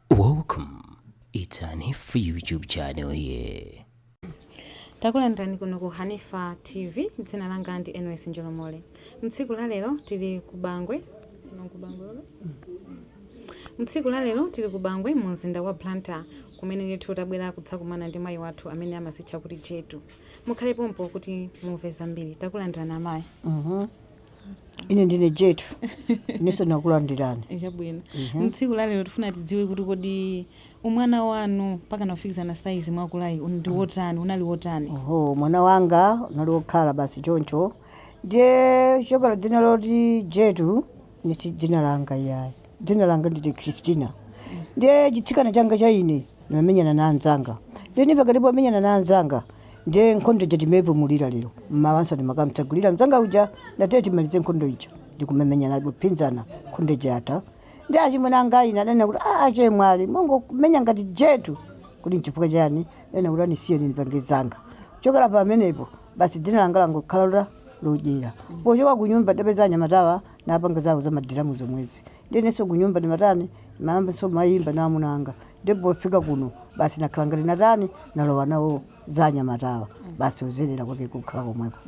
Welcome. It's Hanifa YouTube channel here. takulandirani kuno ku hanifa tv dzina langa ndi enos njolomole mtsiku la lero tili ku bangwe mu mzinda wa blantyre kumene ndithu tabwera kudzakumana ndi mayi wathu amene amazitcha kuti jetu mukhale pompo kuti mumve zambiri takulandirani amayi ine ndine jetu inenso nakulandirani Eh, chabwino Mhm. mtsiku lalero tifuna tidziwe kuti kodi umwana wanu mpaka nakufikizana saizi mwakulayi un- ndi wotani unali wotani oho mwana wanga unali wokhala basi choncho ndiye chokhala dzina loti jetu ni si dzina langa iyayi Dzina langa ndine Christina. Ndiye chitsikana changa cha ine ndinamenyana na anzanga. Ndiye ni pakati pomenyana na anzanga ndiye nkhondo ija timaipumulira lero. Mmawanso ndimakamtsegulira mzanga uja ndatiye timalize nkhondo ija. Ndikumamenyana kupindana nkhondo ija yatha. Ndiye achimwene anga ine adanena kuti aa chemwali mongomenya ngati jetu. Kuti nchifukwa chani? Adanena kuti andisiye ndipange zanga. Kuchokera pamenepo basi dzina langa langokhala loti Jetu. Pochoka ku nyumba ndapeza anyamatawa napanga zawo za madiramu zomwezi ndiye inenso kunyumba ndimatani ndimayambanso kumayimba na amuna anga ndiye pofika kuno basi nakhala ngati natani nalowa nawo za anyamatawa basi uzerera kwake kukhala komweko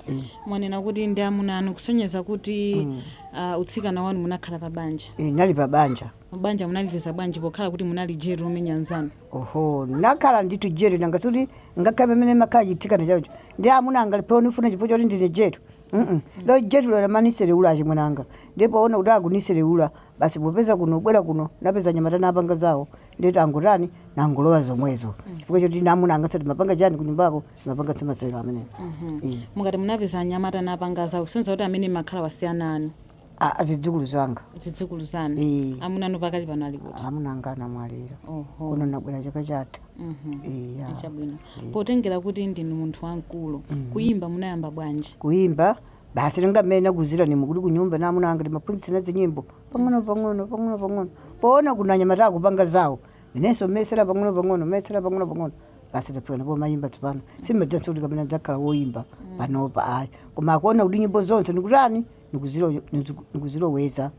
Eh, mwanena kuti ndi amuna anu kusonyeza kuti ah, utsikana wanu munakhala pa banja eh, ndinali pa banja banja munalipeza bwanji pokhala kuti munali jetu womenya nzanu oho nakhala ndithu jetu nanga si kuti ngakhale pamene makhala chitsikana chacho ndi amuna anga alipo nifuna chifukwa choti ndine jetu Mm-mm. lo jetulo amaniselewula achimwene anga ndiye poona kuti akuniselewula basi popeza kuno bwera kuno napeza anyamata napanga zawo nde ti nangotani nangolowa zomwezo chifukwa choti namuna anga so timapanga chani kunyumbako timapanga zamasewero ameneyo Eh. mukati munapeza anyamata napanga zawo kusonyeza kuti amene mumakhalawa si ana anu A- a adzukulu anga zidzukulu zanu Eh. amuna anu pakali pano ali kuti amuna anga anamwalira oho kuno nabwera chaka chatha Mhm. iya chabwino potengera kuti ndinu munthu wamkulu kuyimba munayamba bwanji kuimba basi ngati mmene nakuuzirani mo kuti kunyumba na amuna anga ndimaphunzitsana zinyimbo pang'ono pang'ono pang'ono pang'ono poona kuna anyamata akupanga zawo inenso mesera pang'ono pang'ono mesera pang'ono pang'ono basi ndafika ndipo mayimba tsopano sindimadziwanso kuti kapena dzakhala woyimba panopa ayi koma nkuona kuti nyimbo zonse ndikutani ndikuzilo- ndiku- ndikuziloweza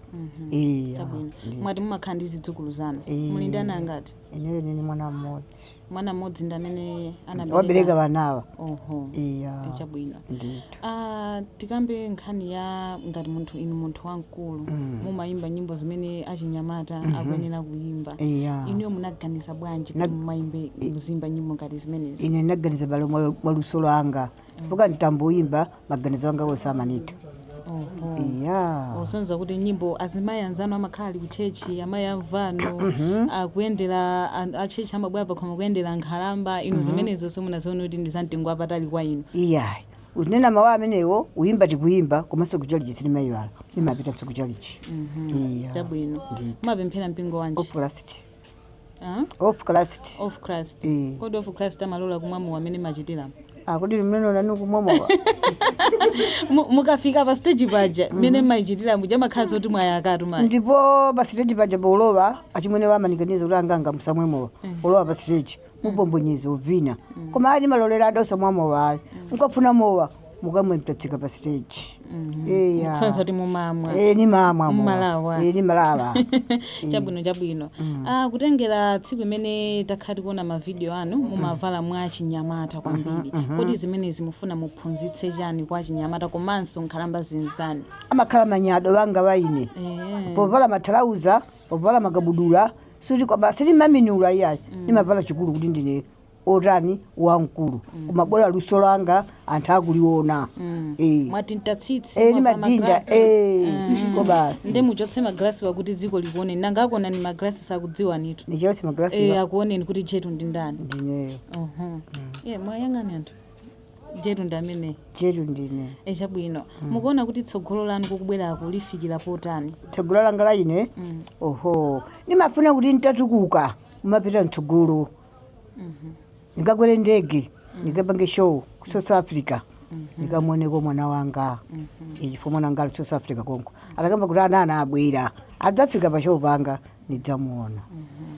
iya Chabwino. ndi- mwati mumakhala ndi zidzukulu zanu Eh. muli ndi ana angati ineyo nili ni mwana mmodzi mwana mmodzi ndi amene wabereka anabereka anawa oho iya chabwino ndithu Ah, tikambe nkhani ya ngati munthu inu munthu wamkulu mumayimba nyimbo zimene achinyamata akuyenera kuyimba iya inuyo munaganiza bwanji kuti mumayimbe muziimba nyimbo ngati zimenezi ine ndinaganiza balo mwa- mwa luso lwanga mpaka nditamboyimba maganizo anga onse amanithera Oho. iya osonyeza kuti nyimbo azimayi anzanu amakhala ali kuchechi amayi amvano akuyendera an- achechi amabwera pakhomo kuyendera nkhalamba inu zimenezo simunazione kuti ndi zamtengo wapatali kwa inu iyayi unena mawu amenewo uyimba tikuyimba komanso kuchalichi sinimayiwala nimapitanso kuchalichi iya chabwino Ndithu. mumapemphera mpingo wanji of christ Ah? of christ of christ Eh. kodi of christ amalola kumwa mowa mmene mmachitira kodi mneneni nanu kumwa mowa Mu- mukafika pa stage paja mmene mmayichitira muja mmakhala ngati mwayakatu mayi ndipo pa stage paja paulowa achimwene amanikaniza kuti anganga musamwe mowa ulowa pa stage mubombonyeza uvina koma ayi nimalolera adauza musamwe mowa ayi mukafuna mowa mukamwe mtatsika pa stage eya kusonyeza kuti mumamwa Eh, nimamwa. Mmalawa. Eh, nimalawa chabwino chabwino ah, kutengera tsiku imene takhala tikuona mavidiyo anu mumavala mwa chinyamata kwambiri kodi zimenezi mufuna muphunzitse chani kwa achinyamata komanso nkhalamba zinzani amakhala manyado wanga wa ine Eh, povala mathalauza povala makabudula suti kwa basi sinimaminula iyayi ndimavala chikulu kuti ndine otani wamkulu koma bola luso langa anthu akuliona Eh. mwati ntatsitsi Eh, mwapa nimadinda magrasi. eh, Mm. ko basi nde muchotse magrasiwa kuti dziko likuoneni nanga akuona ni magrasi sakudziwanitu ndichotse Eh, magrasi akuoneni kuti jetu ndi ndani ndineyo Uhum. iye muwayang'ane anthu jetu ndi ameneyi jetu ndine e chabwino mukuona kuti tsogolo lanu kukubwerako lifikira potani tsogolo langa la ine oho ndimafuna kuti nditatukuka kumapita mtsogolo ndikakwere ndege ndikapange show ku south africa ndikamuoneko mwana wanga chifukwa mwana wanga ali south africa konko atakamva kuti ana ana abwera adzafika pa show panga ndidzamuona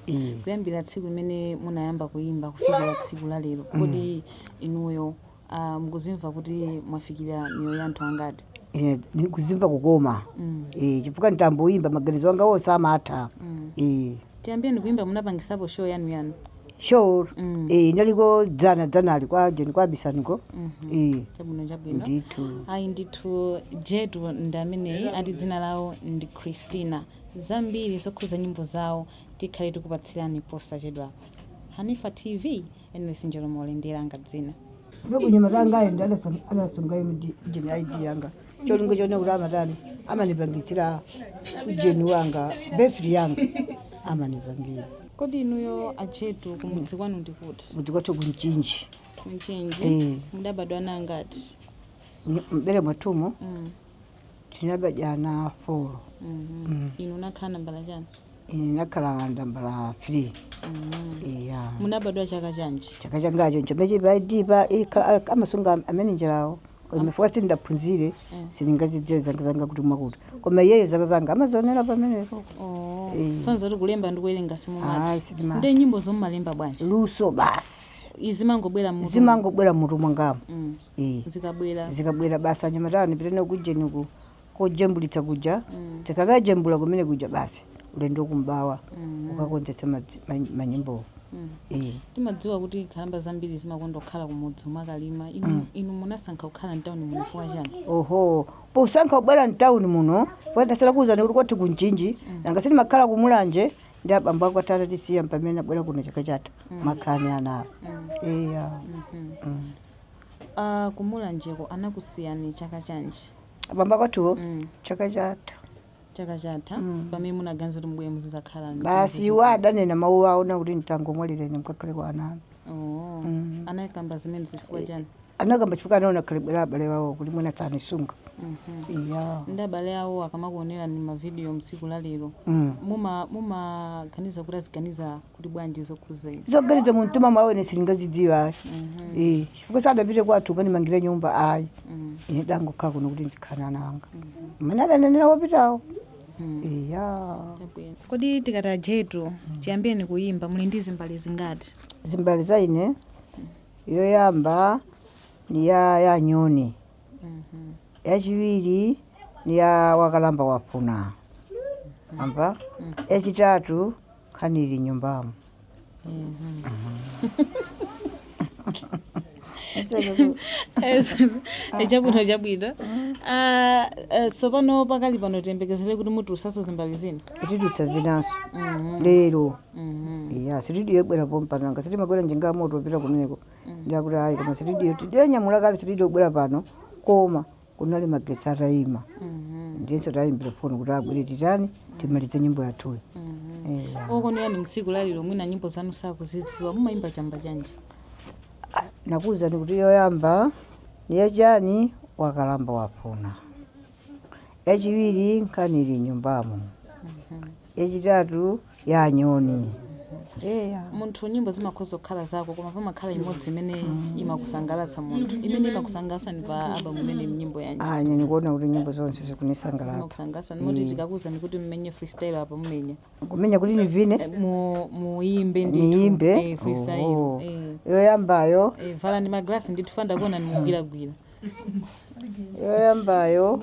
Ee. kuyambira tsiku limene munayamba kuyimba kufikira tsiku la lero kodi inuyo Uh, mukuzimva kuti mwafikira miyoyo ya anthu angati Eh, ndikuzimva kukoma mm. eh, chifukwa nditamboyimba maganizo anga onse amatha mm. eh, chiyambireni kuyimba munapangisapo show yanu yanu show mm. eh, inaliko dzana dzanali kwa joni kwa bisaniko mm -hmm. eh, chabwino chabwino ndithu ayi ndithu jetu ndi ameneyi ati dzina lawo ndi christina zambiri zokhuza nyimbo zawo tikhale tikupatsirani posachedwa hanifa tv Henry Sinjolo Mole ndiye langa dzina. Ndipo nyamata wangayi ndiye adasunga- adasunga inu di- ujeni ID yanga. Cholinga choona kuti amatani amanipangitsira ujeni wanga befri yanga amanipangira. Kodi inuyo a Jetu kumudzi kwanu ndi kuti? Kumudzi kwathu ku Mchinji. Ku Mchinji. Eh. Mudabadwa ana angati? M'bere mwathumo Mm. tinabadwa ana folo Mhm. inu unakhala nambala chani ine nakhala nambala 3 iya munabadwa chaka chanji chaka changacho nchomeche paidipa amasunga amanejalawo chifukwa sindaphunzire sindingazidziwe zaka zanga kuti mwakuti koma iyeyo zaka zanga amazionera pamenepo Oh. Eh. sonza kuti kulemba ndi kuwerenga Ayi, simumatha sindimatha. nde nyimbozo mumalemba bwanji luso basi zimangobwera mu zimangobwera mmutu mwangamo Mm. Eh, zikabwera zikabwera basi anyamata nipita nawo kujeni uku kojembulitsa kuja Mm. tikakajembula kumene kuja basi ulendo ku Mibawa Mhm. kukakonzetsa madzi- ma- manyimbowo Mm. Eh, timadziwa kuti nkhalamba zambiri zimakonda kukhala kumudzi kumakalima inu, inu munasankha kukhala mtawuni muno chifukwa chani oho posankha kubwera mtawuni muno ndasala kuwuzani kuti kwathu ku Mchinji nanga si timakhala ku Mulanje ndi abambo akwathu atatisiya mpamene abwera kuno chaka chatha makhala ni anawo eya Mhm. Mm. A ku Mulanjeko anakusiyani chaka chanji? Abambo akwathuwo Mm. chaka chatha Chaka chatha Mm. pamene munaganiza kuti mubwere muzizakhala ndi basi chimodzi- iwo adanena mawu awo na kuti mtangomwalira ine mkakhale kwa ana anu Oh. Mm. Anakamba zimenezi chifukwa chani? anakamba chifukwa anaona khalidwe la abale wawo kuti mwina sanisunga Mhm. iya Nde abale awo akamakuonerani mavidiyo mtsiku la lero Mm. muma mumaganiza kuti aziganiza kuti bwanji zokhuza izi zoganiza mu mtima mwawo ine sindingazidziwe ayi Eh, chifukwa sadapite kwathu kukanimangira nyumba ayi ine ndangokhala kuno kuti nzikhala ni ana anga mmene adanenera wopitawo iya Chabwino. kodi tikati a Jetu chiyambireni kuyimba muli ndi zimbale zingati zimbale za ine yoyamba ni ya ya nyoni yachiwiri ni ya wakalamba wafuna amba yachitatu nkhani ili mnyumbamo chabwino chabwino Ah, eh, tsopano pakali pano tiyembekezere kuti mutulutsanso zimbale zina titulutsa zinanso lero iya sitidiyo ibwera pompano nanga si timakwera njinga yamoto kupita kumeneko nde akuti ayi koma sitidiyo tidanyamula kale sitidiyo ibwera pano koma kunali magetsi athima ndiyenso tayimbira foni kuti abwere titani timalize nyimbo yathuyi Eya. koko niyani mtsiku lalero mwina nyimbo zanu sakuzidziwa mumayimba chamba chanji nakuwuzani kuti yoyamba ni yachani wakalamba wafuna yachiwiri nkhani ili mnyumbamo yachitatu ya nyoni eya munthu nyimbo zimakhoza kukhala zako koma pamakhala imodzi imene imakusangalatsa munthu imene imakusangalatsani pa album imene ndi nyimbo yanji ine nikuona kuti nyimbo zonse zikunisangalatsa zimakusangalatsani moti tikakuuzani kuti mmenye freestyle apa mumenya kumenya kuti nivine Eh, mu- muyimbe ndithu. niyimbe Eh, freestyle Oho. eh. yoyambayo Eh, valani maglasi ndithu fans akuoneni mukugwiragwira yoyambayo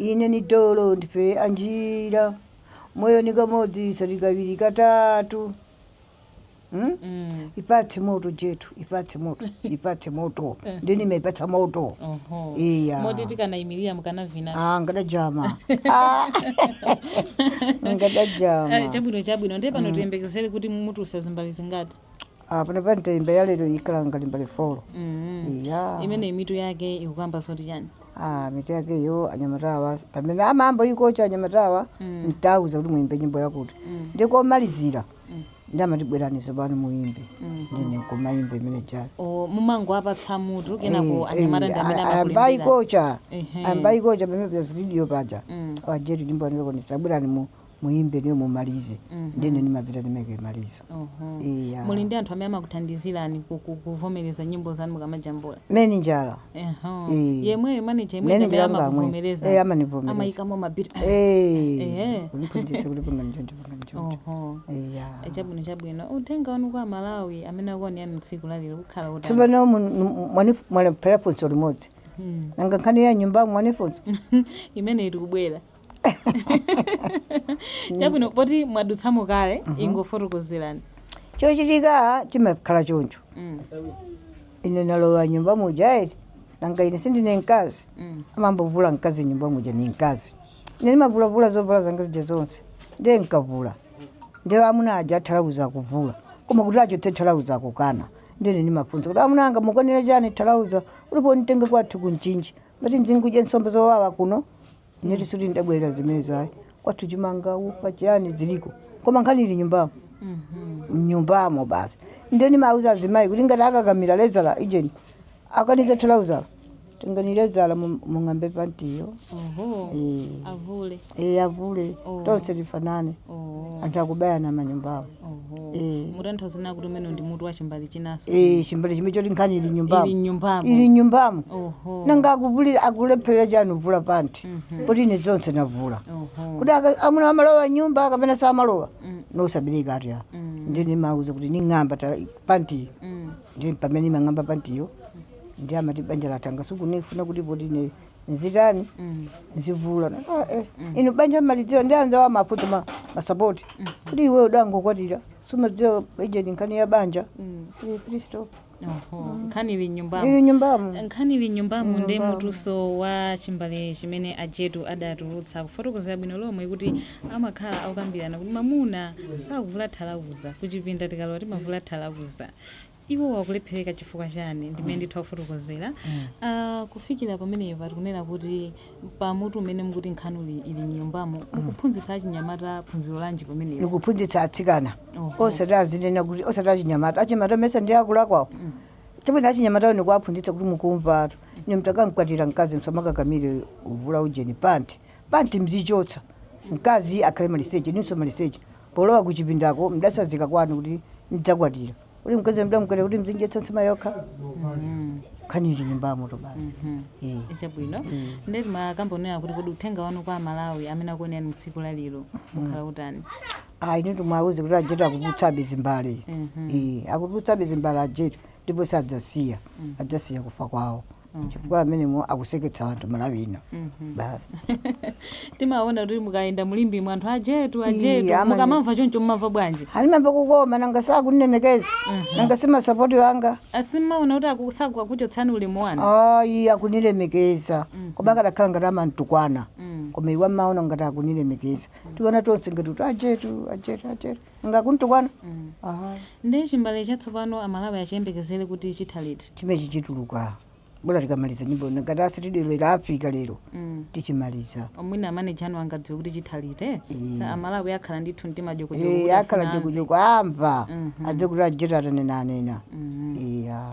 Ine ni dolo ndife anjira moyo ni kamodzi osati kawiri katatu hmm? mm. ipatse moto Jetu ipatse moto ipatse moto eh. ndiye nimaipatsa moto iya moti tikanayimilira mukanavina ah ngadajama ah. ngadajama eh, chabwino chabwino ndiye pano mm. tiyembekezere kuti mutulutsa zimbali zingati Ah, pano panthawi imene ya lero ikhala ngati mbale folo mm. iya imene mitu yake ikukamba zoti chani ah, mitu yakeyo anyamatawa pamene amamba nikocha anyamatawa Mm. ntauza kuti muimbe nyimbo yakuti Mm. ndikamalizira Mm. ndiye amati bweraniso pano muimbe Mm. ndiye nkumaimba imene chani O, mumangowapatsa mutu kenako anyamata ndi amene ambayi amakulimbira kocha Ehe. ambayi kocha pamene pa studio paja Mm. a Jetu nyimbo andikonesa bwerani mu muyimbe ndiye mumalize ndiye ine ndimapita ndimakamaliza iya muli ndi anthu amene amakuthandizirani ku- ku- kuvomereza nyimbo zanu mukamajambula manijala Eho. Eh. yemweyo maneja Manager yemweyo amene wanga yemwe. amakuvomereza Eh, amanivomereza. amayikamo mabiti Ehe. kundiphunzitsa kuti pangani choncho pangani choncho Oho. iya Eh, chabwino chabwino uthenga wanu kwa aMalawi amene akuonani inu tsiku lalero ukhala wotani tsopano mwalephera funso limodzi nanga nkhani ya nyumbamo simunanifunse imene iri kubwera chabwino poti mwadutsamo kale ingofotokozerani chochitika chimakhala choncho Mm, ine nalowa nyumba muja eti nanga ine sindine mkazi mm, amayambovula mkazi nyumba muja ni mkazi ine ndimavulavula zovala zanga zija zonse ndiye nkavula ndiye amuna aja thalauza akuvula koma kuti achotse thalauza akukana ndiye ndimafunsa kuti amuna anga mukanira chani thalauza ulipo nitenge kwathu ku Mchinji Mumati nzingodya nsomba zowawa kuno. Ine sikuti ndabwerera zimenezo ayi. Kwathu chimanga ufa chiyani ziliko. Koma nkhani ili nyumbamo. Nyumbamo basi. Nde nimauza azimayi kuti ngati akakamira lezala ijeni. Akaniza thalauza. Tengani lezala mung'ambe pantiyo. Oho. Eh. Avule. Eh, avule Oh. tonse tifanane Oh, anthu akubayana manyumbamo oh. Eh. mutanthauza kuti umenewo ndi mutu wa chimbali chinanso Eh, chimbali chimene choti nkhani ili ili nyumbamo ili nyumbamo nyumbamo oho nanga akuvula akulepherera chani kuvula panti Mhm. poti ine zonse navula oho kuti aka- amuna amalowa nyumba kapena samalowa Mm. n'osabereka ati a Mm. ndiye nimauza kuti ning'amba ta- pantiyo Mm. ndiye pamene nimang'amba pantiyo ndiye amati banja latha nanga sukunifuna kuti poti ine nzitani nzivula Na- ah, eh. inu banja malidziwa ndi anzawo amafuta ma- masapoti kuti iwe udangokwatira sumadziwa ujeni nkhani ya banja Eh, please stop. Oho, nkhani ili mnyumbamo ili mnyumbamo nkhani ili mnyumbamo ndi mutuso wa chimbale chimene ajetu adatulutsa kufotokozera bwino lomwe kuti amakhala akukambirana kuti mamuna sakuvula thalauza kuchipinda tikalowa timavula thalauza Iwo akulephereka chifukwa chani? Ndimene ndithu akufotokozera. Uh, kufikira pamenepa tikunena kuti pa mutu umene mukuti nkhani ili mnyumbamo mukuphunzitsa achinyamata phunziro lanji pamenepo? Ndikuphunzitsa atsikana Oho. osati azinena kuti osati achinyamata achinyamata mesa ndi akulakwawo chabwino achinyamatawo ndikuwaphunzitsa kuti mukumvatu ine mtakamkwatira mkazi msamakakamire uvula ujeni panti panti mzichotsa mkazi akhale maliseche inunso maliseche polowa kuchipindako mdatsazika kwanu kuti ndidzakwatira kuti mkazi mdamkwatira kuti mzimdyetsa nsima yokha nkhani ili mnyumbamotu basi Eh. chabwino nde timakambirana kuti kodi uthenga wanu kwa amalawi amene akuonerani mtsiku la lero ukhala utani ayi ndithu muwauze kuti ajetu akutulutsabe zimbale Eh, akutulutsabe zimbale ajetu ndipo sadzasiya adzasiya kufa kwawo chifukwa amenewo akuseketsa anthu malawi ino basi timaona kuti mukayenda mulimbi mwa anthu ajetu Ii, ajetu amani. mukamamva choncho mumamva bwanji a ndimamva kukoma nanga sakundilemekeza nanga si masapoti wanga a simmaona kuti akusaku akuchotsani ulemu wanu ayi akunilemekeza koma akadakhala ngati amantukwana koma iwe amaona ngati akunilemekeza tiona tonse ngati kuti ajetu ajetu ajetu nga kuntukwana mm. aha ndi chimbale chatsopano amalawi achiyembekezere kuti chitha liti chimechi chituluka bola tikamaliza nyimbo ngati asitudiyo ila afika lero mm. tichimaliza mwina amaneja anu angadziwe kuti chitha liti eh? Eh. Sa- amalawi akhala ndithu mtima jokojoko akhala jokojoko amva adze kuti ajetu atanena anena iya